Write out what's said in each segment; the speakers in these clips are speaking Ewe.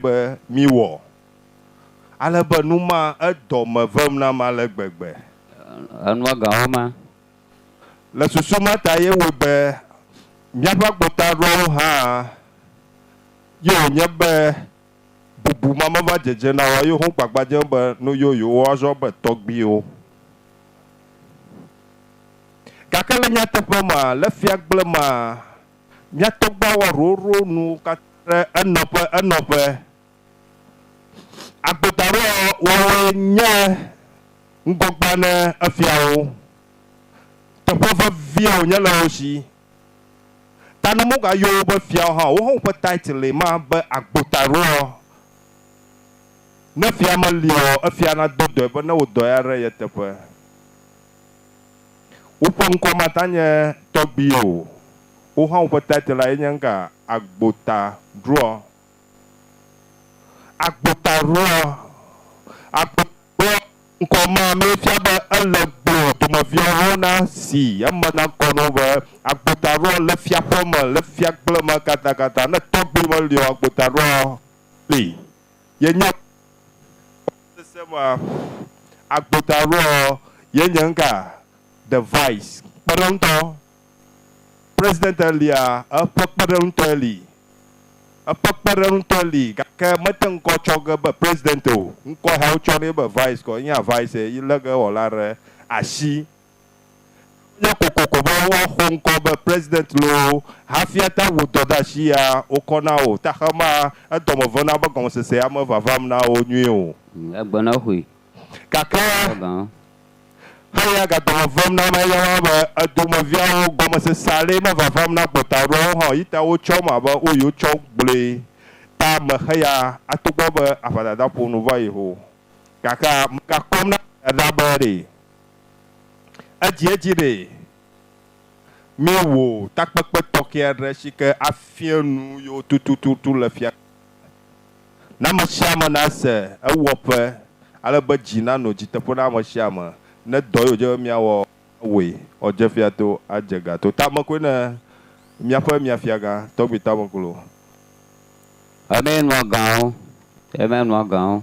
be míwɔ, ale be nu ma edɔ me vem nam ale gbegbe. Enua gawo ma. Le susu ma ta ye wòe be míaƒe agbota aɖewo hã ye wònye be bubu ma meva dzedze na wo eye wogbagba dze be nu yoyowo woazɔ abe tɔgbuiwo. Gake le nyateƒe me, le fiagble mea, Mía tɔgbuiwo wɔ ɖoɖo nuwo katã ɖe enɔƒe enɔƒe. Agbedaɖowɔwɔe nye ŋgɔgbea ne efiawo. Teƒe vevia wònye le wo si. Ta ne womegayɔ wo be fiawo hã o, woawo hã woƒe title'e ma be agbotaɖoɔ. Ne fia meliɔ, efia nado dɔe be ne wò dɔe aɖe ye teƒe. Woƒe ŋkɔ mata nye tɔgbi o. Wohã woƒe title lae nye ŋka, Agbota Ɖuɔ. Agbota Ɖuɔ. Agbota Ɖuɔ ŋkɔ ma mee fia be ele gblɔ dumeviawo na si eme na ŋkɔ na wo be, Agbota Ɖuɔ le fiaƒeme, le fiagble me katakata. Ne tɔgbi meli o, Agbota Ɖuɔ li. Yenya be sese ma agbo ta ɖo ɔ, ye nye ŋka The Vice kpeɖeŋutɔ. President elia, eƒe kpeɖeŋutɔe li. Eƒe kpeɖeŋutɔe li gake mete ŋkɔ tsɔ ge be President o. Ŋkɔ ya wotsɔ nɛ be Vice kɔ. Ye nye Vice yi lege wɔla ɖe asi. Nya kokoko be woaxɔ ŋkɔ be President loo hafi ate ŋu dɔ ɖe asi ya wokɔ na wò texema edɔme vena be gɔmesesea mevavam na wo nyuie o. Egbenɔxoe. Gake eya ga dɔme vem na ame eya wa be edomeviawo gɔmesese aɖee mevavam na gbɔtaɖoawo hã o yi ta wotsɔm abe wo yi wotsɔ gblɔe ta me heya atogbɔ be aʋadada ƒo nu va yi ho. Gake megakpɔm na aʋadada be ɖe. Edzi edzi ɖe míewɔ takpekpe tɔxɛ aɖe si ke afia nu yewo tututu le fia. Ne ame sia ame nase ewɔƒe ale be dzi nanɔ dzi teƒe na ame sia ame ne dɔ ye wòdze be míawɔ awɔe woadze fia to adze ga to. Tame koe na míaƒe Miafiagã, Tɔgbi Tameŋklo. Eme nua gã o, eme nua gã o.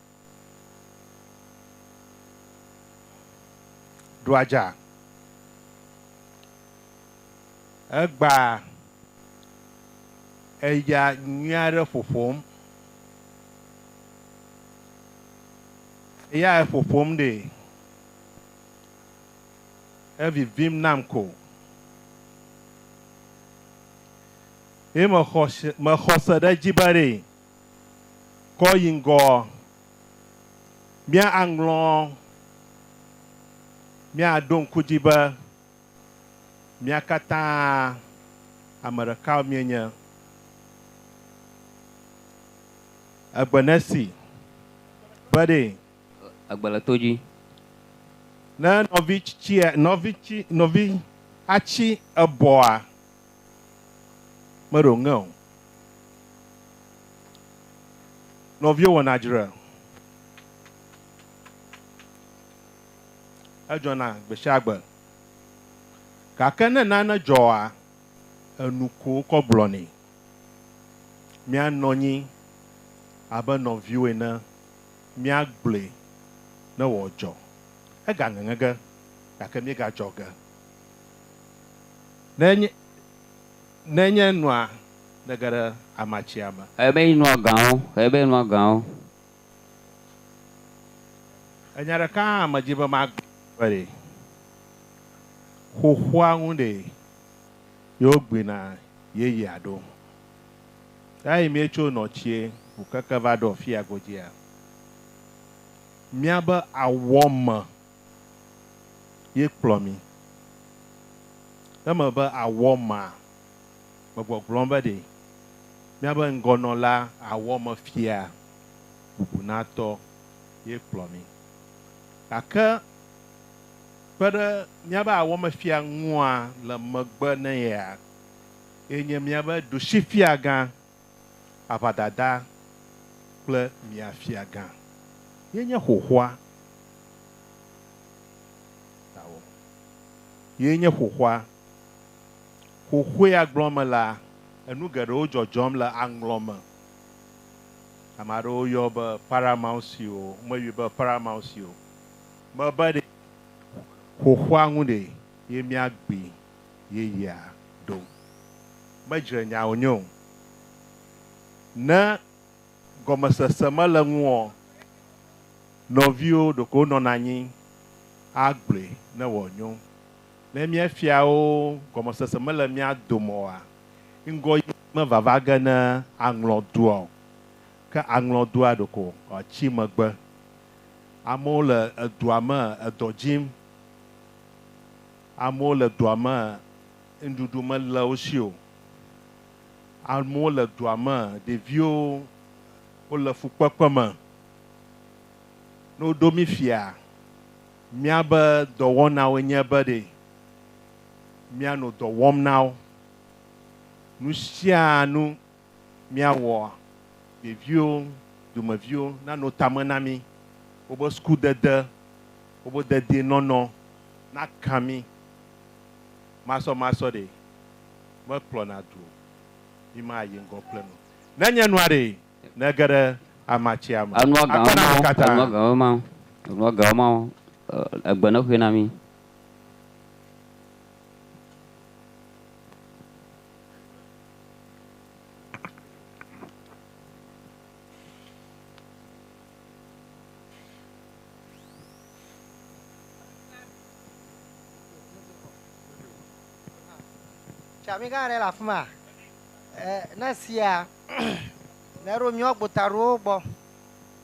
Ɖu adza. Egba eya nyui aɖe ƒoƒom. Eya eƒoƒom ɖe. Evivim nam ko. Ye mexɔ se ɖe edzi be ɖe. kɔ yi ŋgɔɔ, míaŋlɔ, míaɖo ŋku edzi be mía katã ame ɖeka míenye. Egbe nesi. Be ɖee. Egbe le to dzi. Ne nɔvi tsitsi, nɔvi tsi, nɔvi atsi ebɔa. meɖo ŋe o. Nɔviwo wɔna dzre edzɔna gbesiagbe gake ne nane dzɔa, enu ko wokɔ gblɔnɛ. Míanɔ anyi abe nɔviwo ene míagblɔe ne wòadzɔ. Egaŋeŋe ge gake míegadzɔ ge. Ne nye, ne nye nua nege ɖe amatsia me. Ebe yi nua gãwo, ebe yi nua gãwo. Enya ɖeka hã medzi be magblɔ ɖi. Xoxoa ŋu ɖe yewo gbina yeyea ɖo. Eyi mietso nɔ tsie ŋu keke va ɖo afia godzia? Miabe awɔ me ye kplɔ mi. Eme be àwɔ ma, megbɔgblɔm be ɖe míabe ŋgɔnɔla awɔ me fia bubunatɔ ye kplɔ mi. Gake kpe ɖe míabe awɔmefia ŋua, le megbe ne yea, ye nye míabe ɖusifiagã aʋadada kple mia fiagã, yenye xoxoa tawɔ, yenye xoxoa. Xoxoea gblɔ me la, enu geɖewo dzɔdzɔm le aŋlɔ me. Ame aɖewo yɔ be Paramount Seal o, womeyɔe be Paramount Seal o. Mebe ɖe xoxoa ŋu ɖe ye mia gbi. yeyea ɖo. Medzre nya wònye o. Ne gɔmesese mele eŋuɔ, nɔviwo ɖeko wonɔna anyi agblɔe ne wòanyo. Ne míefia wo gɔmesese mele mía dome oa, ŋgɔyi mevava ge ne aŋlɔdua o. Ke aŋlɔdua ɖeko wòatsi megbe. Amewo le edua me edɔ dzim. Amewo le dua me nuɖuɖu mele wo si o. Amewo le dua me ɖeviwo wole fukpekpe me. Ne woɖo mí fia, míabe dɔwɔnawoe nye be ɖe míanɔ dɔ wɔm na wo. Nu sia nu míawɔ ɖeviwo, dumeviwo nano tame na mí, wobe sukudede, wobe dedienɔnɔ naka mí masɔmasɔ ɖe, mekplɔna du o, mímayi ŋgɔ kple nu nenye nua ɖe nege ɖe amatsia me. Enua gan Akpe na mi katã. Enua gan ema. Enua gan ema. Egbe nexoe na mí. Tsami gã aɖe le afi ma. Eh, ne sia, ne eɖo míawo gbota ɖowo gbɔ,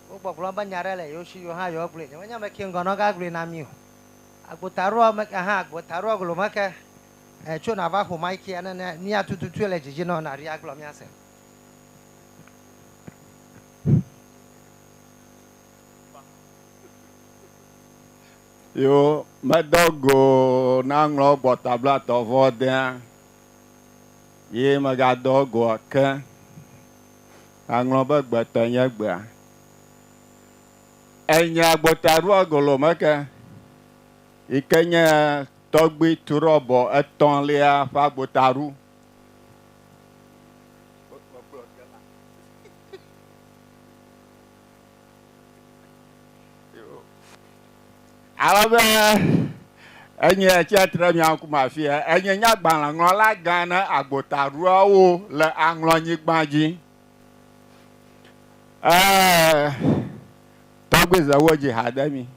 wogbɔgblɔ be nya aɖe le yewo si yewo hã yewo gblɔe. Nyemenye ame ke ŋgɔ nɔga gblɔe na mí o. Agbota ɖoa me ke hã, agbota ɖoa glo me ke Eh tso na va xo mai kia ne ne mia tututue le dzidzi nɔ na ria gblɔ mia se. Yo medo go na ŋlɔ gbɔ tabla tɔ vɔ dea. Ye mega do go ke. Na ŋlɔ be gbe te nye gbea. Enya gbota rua golo meke. yi ke nye tɔgbui trɔbɔ etɔ̃lia ƒe agbotaɖo. Alebe enye tsia tre mia ŋkume afia, enye nyagbalẽŋlɔla gã ne agbotaɖoawo le aŋlɔnyigba dzi. Ee, tɔgbui Zewodzi ha de mi.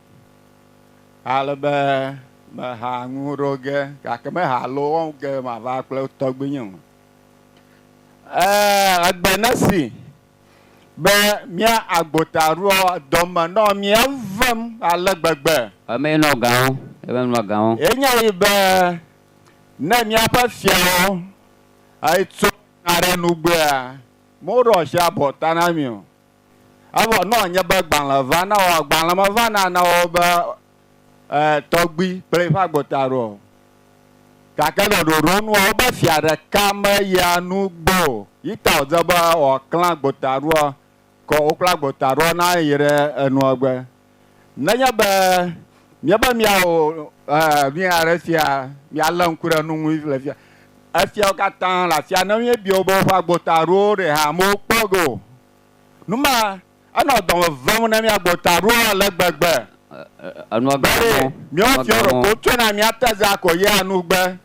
Ale be meha nuwo ɖo ge, gake meha lo wo ge mava kple tɔgbuinye o. Ee, egbe nesi be mía agbotaɖoa dɔme nɔ mía vem ale gbegbe. Emee nɔ gãwo, eme nɔ gãwo. Enyae be ne míaƒe fiawo tso aɖe nugbea, moɖoa asi abɔ ta na mí o. Evɔ ne wòanye be gbalẽ va, ne wɔ, gbalẽ meva na ne wɔ be e, tɔgbui kple eƒe agbota ɖo o. Gake le ɖoɖo nua, wobe fia ɖeka meyia nu gbɔ o. Yi ta wòdze be wòaklẽ agbota ɖoa, ke wòklẽ agbota ɖoa na yi ɖe enuɔ gbe. Nenye be míebe míawɔ nu aɖe fia, míalé ŋku ɖe nu ŋu le fia, efiawo katã le afia, ne míebia wo be woƒe agbota aɖo ɖe hã, mewokpɔ ge o. Nu ma enɔ dɔme vem na mía agbota aɖowo ale gbegbe be míawo fiawo ɖeko wotsɔe na mía tezea ko yea nu be,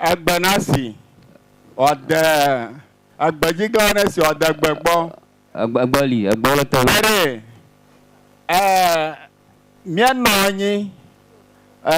Egbe nasi, ɔde, egbedziglã nesi, ɔde gbe gbɔ. Egbe, egbe li, egbe le tɔwo. Eɖe, e, míanɔ anyi, e.